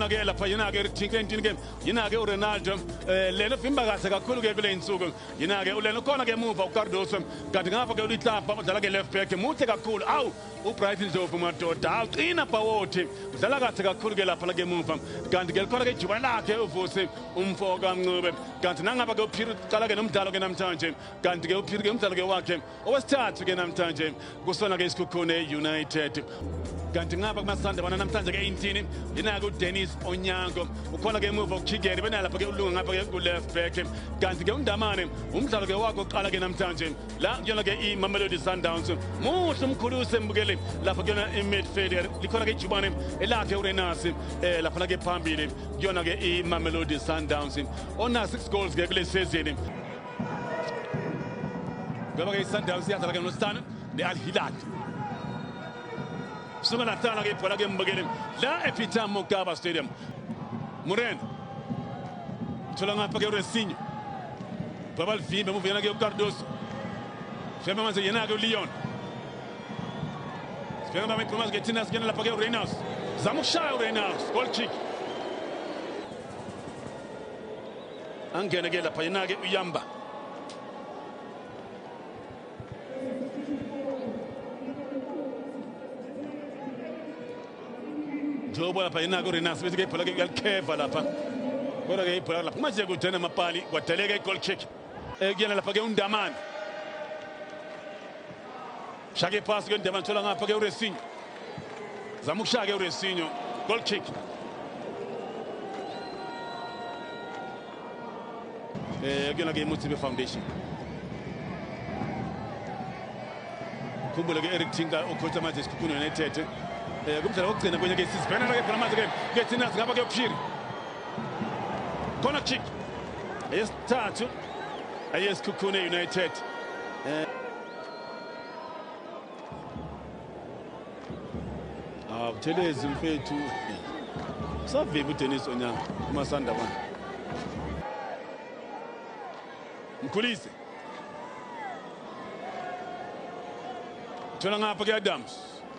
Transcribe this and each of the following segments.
ke lapha yena ke rithinke intini ke yena ke uRonaldo eh, lena vimba kahle kakhulu ke kule insuku yena ke ulena khona ke emuva uCardoso kanti ngapha ke ulihlapha udlala ke left back muhle kakhulu awu ubright ndlovu madoda awuqina bhawothi udlala kahle kakhulu ke lapha lake muva kanti ke likhona ke ijuba lakhe uvusi umfo kamncube kanti nangaba ke uphiri uqala ke nomdlalo ke namhlanje kanti ke uphiri ke umdlalo ke wakhe owesithathu ke namhlanje kusona ke isikhukhune united kanti ngapha kumasanda bona namhlanje ke intini yinake udennis onyango ukhona ke emuva ukuchigeni benalapha ke ulunga ngapha ke kuleft back kanti ke undamane umdlalo ke wakho oqala ke namhlanje la kuyona ke imamelodi sundowns muhle umkhulu usembukele lapha kuyona imidfielder likhona ke ijubane elakhe urenasi eh laphana ke phambili kuyona ke imamelodi sundowns onasi six goals ke kule sezini Ngaba ke iSundowns iyadlala ke noStana ne-Al Hilal. Suka nahlala ke ibhola ke mbukele la ePeter Mokaba Stadium. Murena. Thola ngapha ke uResinho. Baba livimbe emuva yena ke uCardoso. Shema manje yena ke uLeon. Sibheka mama iphuma ke thina singena lapha ke uReynolds. Zama ukushaya uReynolds. Goal kick. angene ke lapha yena ke uyamba Jobo lapha yena ke uRenas bese ke ibhola ke uyalikheva lapha kodwa ke ibhola lapha manje kujena amapali kwadeleka i-goal kick ekuyena lapha ke undamane Shake pass ke Ndema thola ngapha ke uResinho. Zama ukushaya ke uResinho. Goal kick. Eh kuyona ke iMutsibe Foundation. Khumbule ke Eric Tinka ukhotha manje isikhukhune United. Eh kumdlalo wokugcina kwenye ke sisibhena ke phela manje ke ke thina singaba ke uphiri. Corner kick. Eyesithathu eyesikhukhune United. Eh Ah, Buthelezi mfethu. Saviva uDennis Onyanga uMasanda bana. Mkhulise. Thola ngapha ke Adams.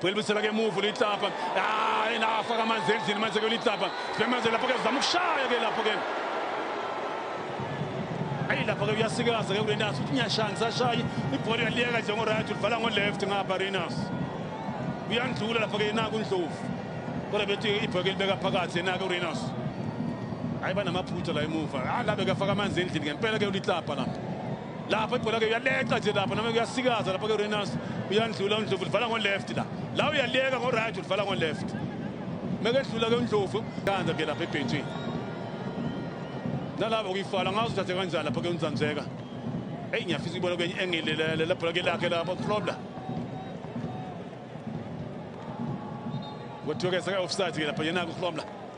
Buyelibisela ke move ulitlapa. Ah, ena afaka amanzi endlini manje ke ulitlapa. Sibemazela lapho ke zama ukushaya ke lapho ke. Ayi lapho ke uyasikaza ke kulenaso uthi ngiyashaya ngisashayi ibhola uyaliyeka nje ngo right ulivala ngo left ngapha Renas. Uyandlula lapho ke naku Ndlovu. Kodwa bethi ibhola libeka phakathi naku Renas. Hayi banamaphutha la emuva. Ah la bekafaka amanzi endlini ngempela ke ulitlapa lapho. lapha ibhola ke uyaleqa nje lapha noma kuyasikaza lapha ke Renas uyandlula uNdlovu livala ngo left la la uyaleka ngo right ulivala ngo left mekedlula ke uNdlovu kanza ke lapha ebhentshini nalabo kuyifala ngazi uthathe kanjani lapha ke uNzanzeka hey ngiyafisa ibona kwenye engilelele la bhola ke lakhe lapha uFlobla kuthiwa ke seka offside ke lapha yena uFlobla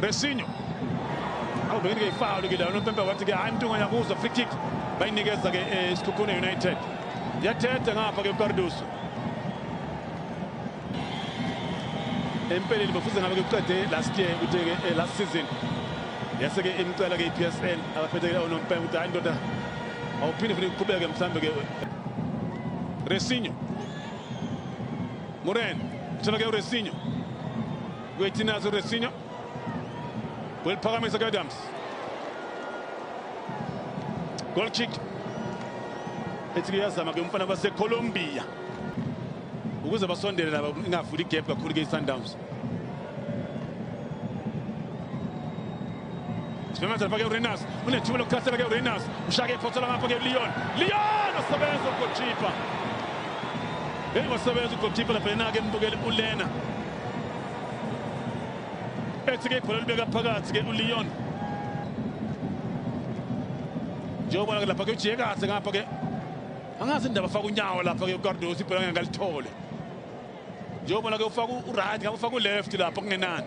Resinho awubekile ifoul ke la unompempe wathi ke hayi mntunganya kuzo free kick bayinikeza ke eh, isikhukhune united yathethe ngapha ke ucarduso empeleni bafuze ngabe kuqede last year ukuthi ke eh, last season yase ke imcela ke iPSL abaphethe ke onompempe ukuthi hayi ndoda awuphinde futhi uqhubeke mhlambe ke Resinho Moren uthola ke uResinho Gwetinazo Resinho. Will Pagamisa Adams. Goal kick. Ethi kuyazama ke umfana baseColombia. Ukuze basondele laba ingavuli igap kakhulu ke iSundowns. Sibemezela ke uRenas unethuba lokukhasela ke uRenas ushake iphothela ngapha ke Leon Leon osebenza ugoalkeeper Hey wasebenza ugoalkeeper lapha yena ke mbukele uLena ethi ke ibhola libeka phakathi ke uLeon njengoba ke lapha ke ujike kahle ngapha ke angazi indaba faka unyawo lapha ke uCardoso ibhola ngeke alithole njengoba ke ufaka uright ngapha ufaka uleft lapha kungenani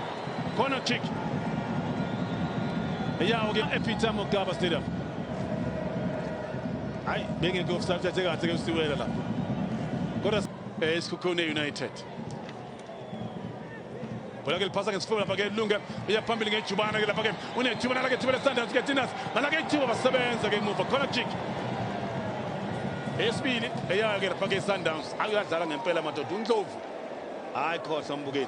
Corner kick. Yawo ke ePeter Mokaba Stadium. Hayi bengeke offside athe kahle ke usiwela la. Kodwa esikhukhune eh, United. Bola ke lipasa ngesifuba lapha ke lunge iya phambili ngejubana ke lapha ke unejubana lake thibele Sundowns ke Tinas nalake ithiba basebenza ke emuva corner kick. Esibili eya ke lapha ke Sundowns akuyadlala ngempela madoda uNdlovu. Hayi khosa umbukeli.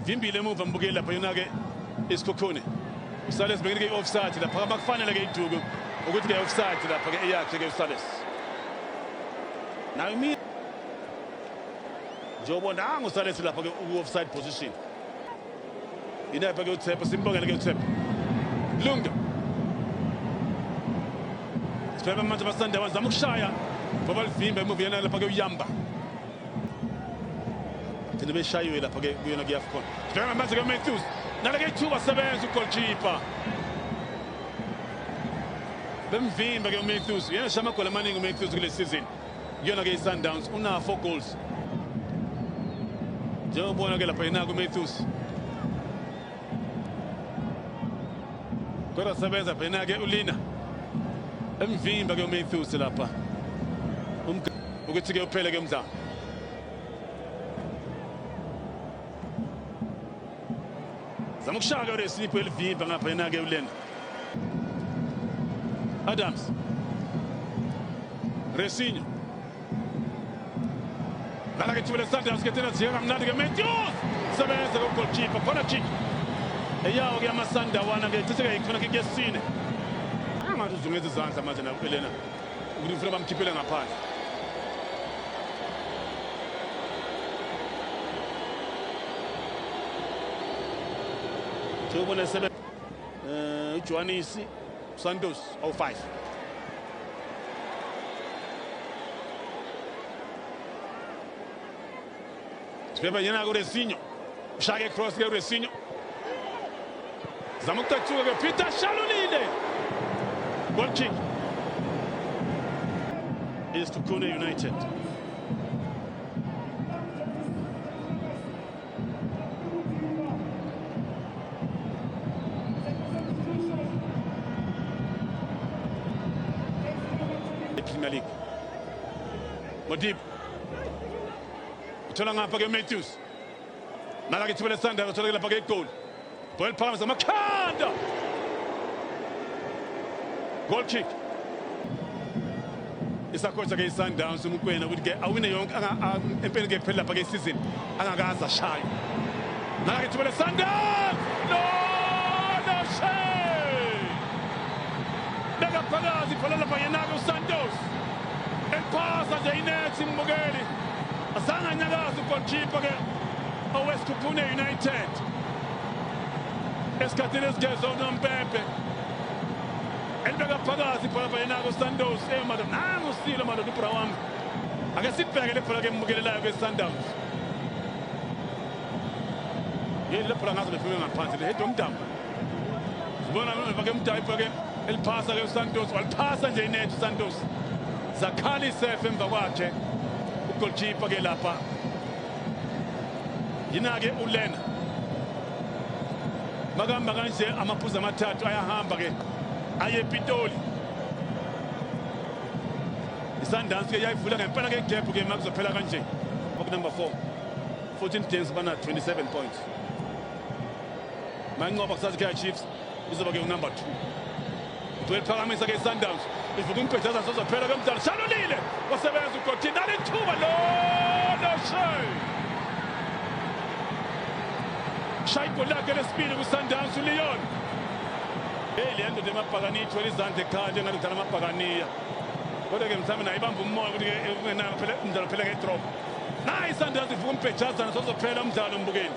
Ivimbile emuva mbukeli lapha yona-ke isikhukhuni. Usale sibekile i-offside lapha abakufanele-ke iduku ukuthi ke offside lapha ke eyakhe ke uSales nayo mina njengoba nangu uSales lapha ke u-offside position inepha ke uThepha simbongele ke uThepha Lunga Sibhema manje basanda bazama ukushaya ngoba livimba emuva yena lapha ke uyamba Thina beshayiwe lapha ke kuyona kuyaFcon. Sibheka manje ke Matthews. Nale ke ithuba sebenza ugoalkeeper. Bemvimba ke uMatthews. Yena shama goal amaningi uMatthews kule season. Kuyona ke iSundowns una 4 goals. Njengoba ubona ke lapha yena kuMatthews. kodwa sebenza phena ke ulina emvimba ke uMatthews lapha ukuthi ke uphele ke umdlalo zama ukushaya ke uresipho elivimba ngapha yena ke ulena Adams Resinho Kala ke chibele sante aske tena ziyeka mnandi ke Matthews. Sebenza ko goalkeeper khona kick. Eyawo ke amasanda wana ke cishe ke khona kick yesine. Angathi uzungeza izandla manje na Elena. Ukuthi ufuna bamkhiphele ngaphandle. Sewubona sebe eh uJwanisi Santos ao faz. Sibhebha yena kulesinyo. Ushaya icross ke kulesinyo. Zama ukuthathuka ke Peter Shalulile. Goal kick. Is to Kune United. Premier League. Modib. Uthola ngapha ke Matthews. Nala ke thibele Sanders uthola ke lapha ke igoli. Ball palms on Makanda. Goal kick. isakhotha ke isundowns umkwena ukuthi ke awine yonke empeleni ke phela lapha ke isizini angakaze ashaye nake thubele sundowns no no shame beka phakathi phala lapha yenake usantos eliphasa nje inethi imbukeli azange anyakaze ugolkipa ke owesikhuphune united esikhathini esigezwa unompempe elibeka phakathi ibhola bayinako sandos emado eh, nangu silo madoda ibhola wami ake sibheke le bhola ke embukelelayo besundowns yini le bhola ngaze lifike ngaphansi lehedi omdambo sibona ke mdayi ibhola ke eliphasa ke usantos waliphasa nje inethi usantos zakhala isefe emva kwakhe ugolkipa ke lapha yina-ke ulena makahamba kanje amaphuzu amathathu ayahamba-ke aye epitoli isandansi ke yayivula ngempela ke gap ke makuzophela kanje okunumber 4 14 games bana 27 points manqoba kusazi kaya chiefs izoba ke unumber 2 Gcwele phakamisa ke Sundowns. Ivuka umpethaza sozophela bemdala. Shalulile. Wasebenza uGothi dala ithuba lo no shay. Shay gol lakhe lesibili ku Sundowns uLeon. Hey le ndoda emabhakani ithwele izandla ekhaya njengathi udlala amabhakaniya. Kodwa ke mthami naye ibamba umoya ukuthi ke ungenanga phela umdlalo phela ke drop. Nayi Sundowns ivuka umpethaza sozophela umdlalo mbukeni.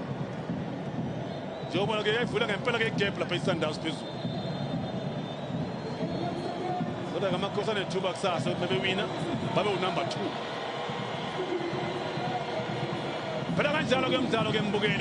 njengobona ke yayivula ngempela ke igap lapha isundowns phezulu kodwa ke amakhosi anethuba kusasa ukuthi bebewina babe unumber two phela kanjalo ke mdlalo ke mbukeli